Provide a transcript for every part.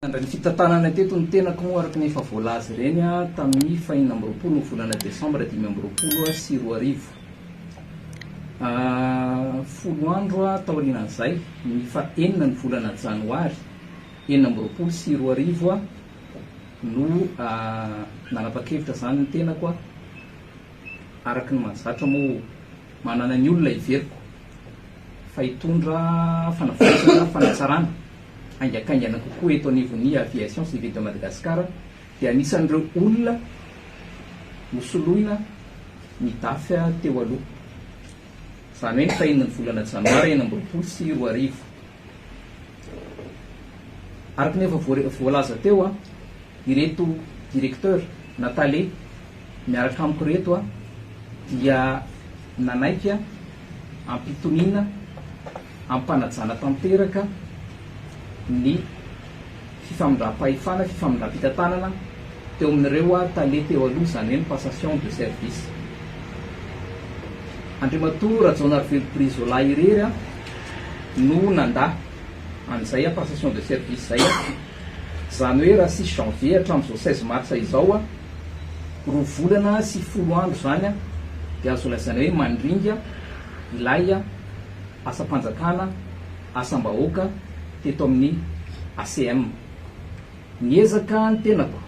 Nandray ny fitantanana teto ny tenako moa araka ny efa voalaza ireny tamin'ny faha enina amby roapolo ny volana desambra dimy amby roapolo sy roa arivo. Folo andro taorian'izay, ny faha enina ny volana janoary enina amby roapolo sy roa arivo no nanapa-kevitra izany ny tenako araka ny mahazatra moa manana ny olona hiveriko fa hitondra fanavaozana, fanatsarana. haingakaingana kokoa eto anivon'ny Aviation Civile de Madagascar dia anisan'ireo olona nosoloina ny Dafa teo aloha, izany hoe ny fahenon'ny volana janoary enina amby roapolo sy roa arivo. Araka ny efa voalaza teo, ireto Directeur na Tale miaraka amiko ireto dia nanaiky ampitoniana. hampanajana tanteraka ny fifamindram-pahefana, fifamindram-pitantanana teo amin'ireo tale teo aloha, izany hoe ny passation de service. Andriamatoa Rajaonarivelo Brizola irery no nandà an'izay passation de service izay, izany hoe raha sisy janvier hatramin'izao seize mars izao, roa volana sy folo andro izany dia azo lazaina hoe mandringa ilay. asam-panjakana, asam-bahoaka teto amin'ny ACM. Niezaka ny tenako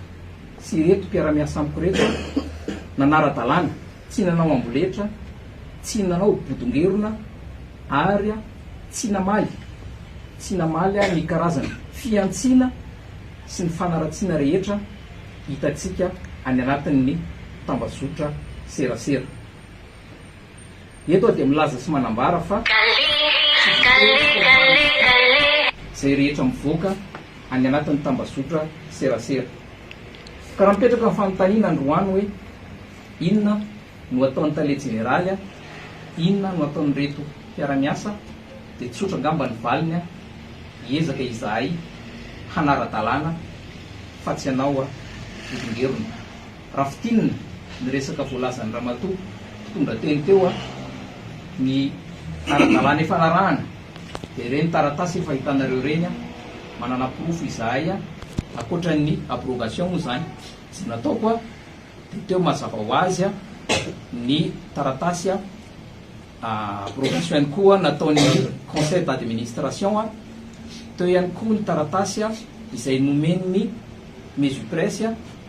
sy ireto mpiara-miasa amiko ireto nanara-dalàna, tsy nanao amboletra, tsy nanao bodongerona ary tsy namaly tsy namaly ny karazana fihantsiana sy ny fanaratsiana rehetra hitantsika any anatin'ny tambazotra serasera. Eto aho dia milaza sy manambara fa tsy voatery izay rehetra mivoaka any anatin'ny tambazotra serasera. Ka raha mipetraka ny fanontaniana androany hoe inona no ataon'ny tale jeneraly a, inona no ataon'ireto mpiara-miasa dia tsotra angamba ny valiny a, hiezaka izahay hanara-dalàna fa tsy ianao a, Volongerona. Raha fintinina ny resaka voalazan'i Ramatoa mpitondra teny teo a, ny ara-dalàna efa narahana dia ireny taratasy efa hitanareo ireny a, manana porofo izahay a, ankoatran'ny abrogation moa izany izay nataoko a, dia teo mazava ho azy a, ny taratasy a, abrogation ihany koa nataon'ny conseil d'administration a, teo ihany koa ny taratasy a, izay nomen'ny Mesupresse a,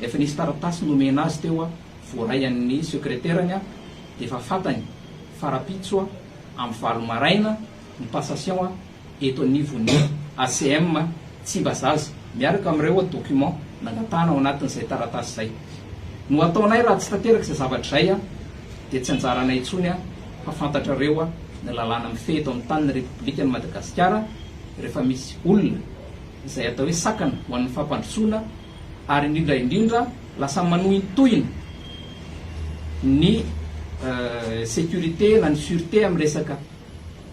Rehefa nisy taratasy nomena azy teo voaray an'ny sekreterany dia efa fantany fa rahampitso amin'ny valo maraina ny passation eto anivon'ny ACM Tsimbazaza miaraka amin'ireo documents nangatahana ao anatin'izay taratasy izay. No ataonay raha tsy tanteraka izay zavatra izay dia tsy anjaranay intsony fa fantatrareo ny lalàna mifehy eto amin'ny tanin'ny Repoblikan'i Madagasikara rehefa misy olona izay atao hoe sakana ho an'ny fampandrosoana ary indrindra indrindra lasa manohintohina ny sécurité na ny sûreté amin'ny resaka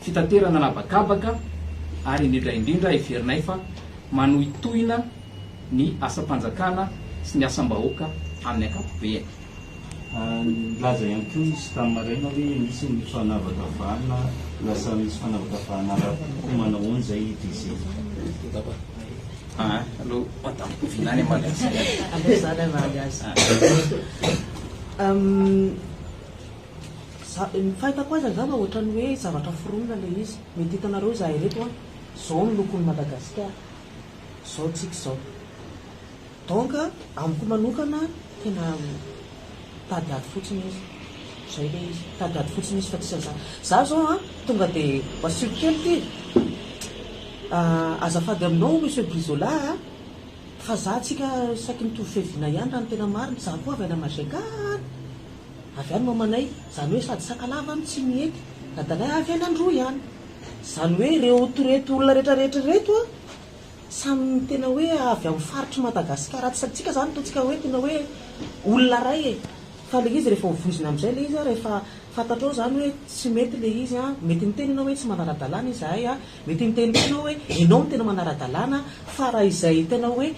fitaterana an'habakabaka ary indrindra indrindra heverinay fa manohintohina ny asam-panjakana sy ny asam-bahoaka amin'ny ankapobeny. Nilaza ihany koa izy tamin'ny maraina hoe misy ny fanavakavahana, lasa misy fanavakavahana ara-poko, manahoana izay DG? Ny fahitako azy angamba ohatran'ny hoe zavatra foronina ilay izy, mety hitanareo izahay ireto an, izao ny lokon'i Madagasikara, izao tsika izao. Donc amiko manokana tena mitady ady fotsiny izy, zay le izy, mitady ady fotsiny izy fa tsy an'zany. Za zao an tonga de masioko kely ty, azafady aminao Monsieur Brizola a, fa za tsika saiky mitovy fiaviana ihany raha ny tena marina, za koa avy any Majeka any, avy any mamanay, zany hoe sady Sakalava no tsy mihety, dadanay avy any Androy any, zany hoe reto reto olona retraretra reto an, Samy tena hoe avy amin'ny faritr'i Madagasikara atsy antsika zany totsika hoe tena hoe olona ray e! Fa le izy rehefa hovoizina amzay le izy an rehefa fantatrao zany hoe tsy mety le izy an, mety miteny enao hoe tsy manara-dalàna izahay an, mety miteny koa enao hoe enao no tena manara-dalàna an, fa raha izay tena hoe.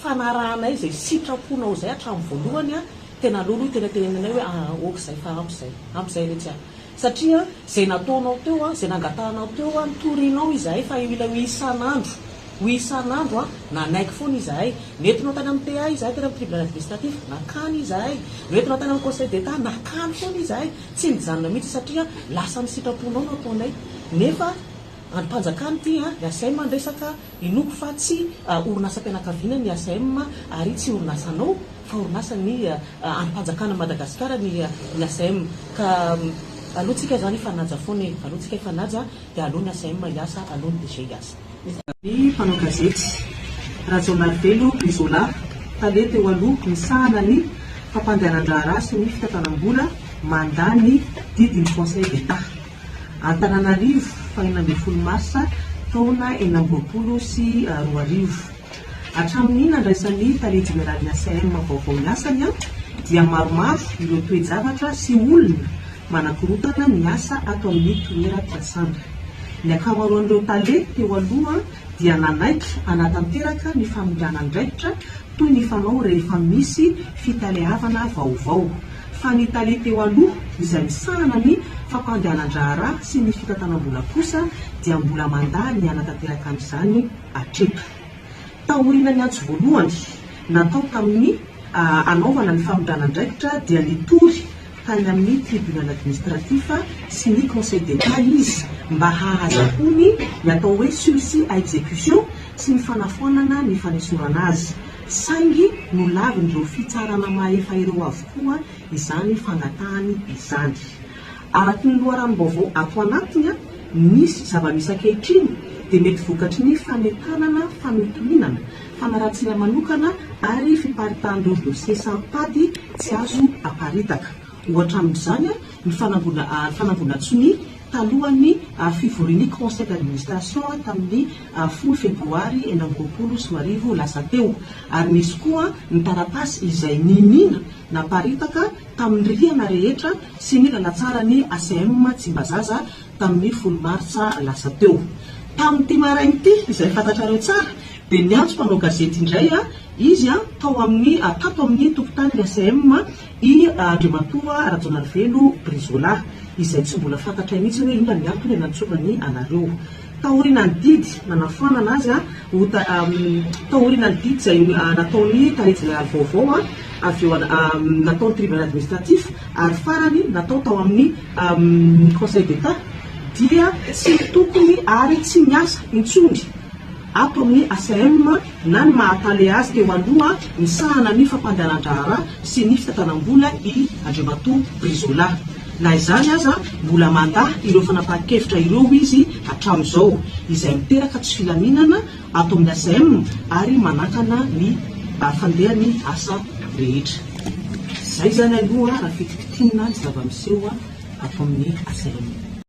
fanarahanay izay sitraponao izay hatramin'ny voalohany a, tena aloha aloha tena tenenanay hoe aa ok izay fa ampy izay, ampy izay retsy a, satria izay nataonao teo a, izay nangatahanao teo a, nitorinao izahay fa io ilay hoe isan'andro, hoe isan'andro a, nanaiky foana izahay, nentinao tany amin'ny PA izahay, tany amin'ny tribunal administratif, nakany izahay, noentinao tany amin'ny conseil d'Etat, nakany foana izahay, tsy nijanona mihitsy satria lasan'ny sitraponao no ataonay, nefa Andrim-panjakana ity ny ACM niresaka, inoako fa tsy orinasam-pianakaviana ny ACM ary tsy orinasanao fa orinasan'ny andrim-panjakana Madagasikara ny ny ACM ka aloantsika izany hifanaja foana e! Aloantsika hifanaja dia aleo ny ACM hiasa, aleo ny DG hiasa. Ny mpanao gazety, Rajaonarivelo Brizola, tale teo aloha misahana ny fampandehanan-draharaha sy ny fitantanam-bola mandà ny didin'ny Conseil d'Etat. Antananarivo, fahena ambin'ny folo marsa taona enina amby roapolo sy roa arivo. Hatramin'ny nandraisan'ny Tale Jeneralin'ny ACM vaovao ny asany dia maromaro ireo toe-javatra sy olona manakorontana ny asa ato amin'ny toeram-piasana. Ny ankamaroan'ireo Tale teo aloha dia nanaiky hanatanteraka ny famindràna andraikitra toy ny fanao rehefa misy fitaleavana vaovao. fa ny tale teo aloha izay misahana ny fampandehanan-draharaha sy ny fitantanam-bola kosa dia mbola mandà ny hanatanteraka an'izany hatreto. Taoriana ny antso voalohany natao tamin'ny hanaovana ny famindrana andraikitra dia nitory tany amin'ny Tribunal Administratif sy ny Conseil d'Etat izy mba hahazahoany ny atao hoe sursis à exécution sy ny fanafoanana ny fanesorana azy Saingy nolavin'ireo fitsarana mahefa ireo avokoa izany fangatahany izany. Araka ny loharanom-baovao ato anatiny, misy zava-misy ankehitriny dia mety vokatry ny fanentanana, fanontonianana, fanaratsiana manokana ary fiparitahan'ireo dosie saropady tsy azo aparitaka. Ohatra amin'izany ny fanambolan-tsonia talohan'ny fivorian'ny Conseil d'administration tamin'ny folo febroary enina amby roapolo sy roa arivo lasa teo, ary nisy koa ny taratasy izay niniana naparitaka tamin'ny rihana rehetra sy ny lalatsaran'ny ACM Tsimbazaza tamin'ny folo martsa lasa teo. Tamin'ity maraina ity, izay fantatrareo tsara, dia niantso mpanao gazety indray izy tao amin'ny tato amin'ny tokotanin'ny ACM I Andriamatoa Rajaonarivelo Brizola, izay tsy mbola fantatray mihitsy hoe inona ny antony nantsovany anareo. Taoriana ny didy nanafoanana azy ho taoriana ny didy izay nataon'ny Tale Jeneraly vaovao, avy eo nataon'ny Tribunal Administratif ary farany natao tao amin'ny Conseil d'Etat dia tsy tokony ary tsy miasa intsony. Ato amin'ny ACM na ny maha Tale azy teo aloha misahana ny fampandehanan-draharaha sy ny fitantanam-bola i Andriamatoa Brizola. Na izany aza, mbola mandà ireo fanapahan-kevitra ireo izy hatramin'izao, izay miteraka tsy filaminana ato amin'ny ACM ary manakana ny fandehan'ny asa rehetra. Izay izany aloha raha fitikitinina ny zava-miseho ato amin'ny ACM.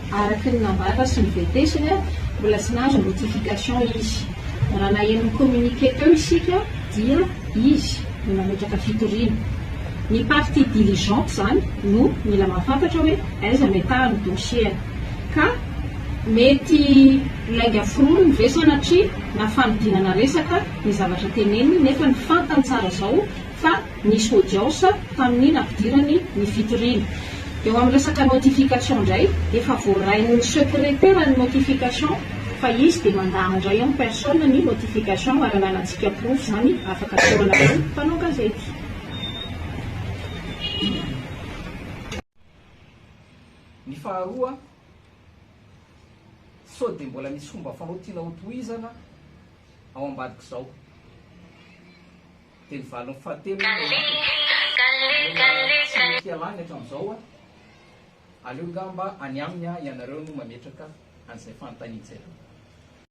Araka ny nambara sy ny vetesany, mbola tsy nahazo notification izy. Raha naheno ny communiqué teo isika dia izy no nametraka fitoriana. Ny partie diligente izany no mila mahafantatra hoe aiza metaha ny dossier-ny. Ka mety lainga foroniny ve sanatria na fanodinana resaka ny zavatra teneniny nefa ny fantany tsara izao fa nisy audience tamin'ny nampidirany ny fitoriana. Eo amin'ny resaka notification indray, efa voarain'ny secretera ny notification fa izy dia mandà indray en personne ny notification ary ananantsika porofo izany afaka tsaorana koa ny mpanao gazety. Ny faharoa, sao dia mbola misy fomba fanao tiana hotohizana ao ambadik'izao. Teny valiny fahatelo aloha no anatin'ny tena tsy mety ialany hatramin'izao a! Aleo angaha mba any aminy ianareo no mametraka an'izay fanontanian'izy ireo.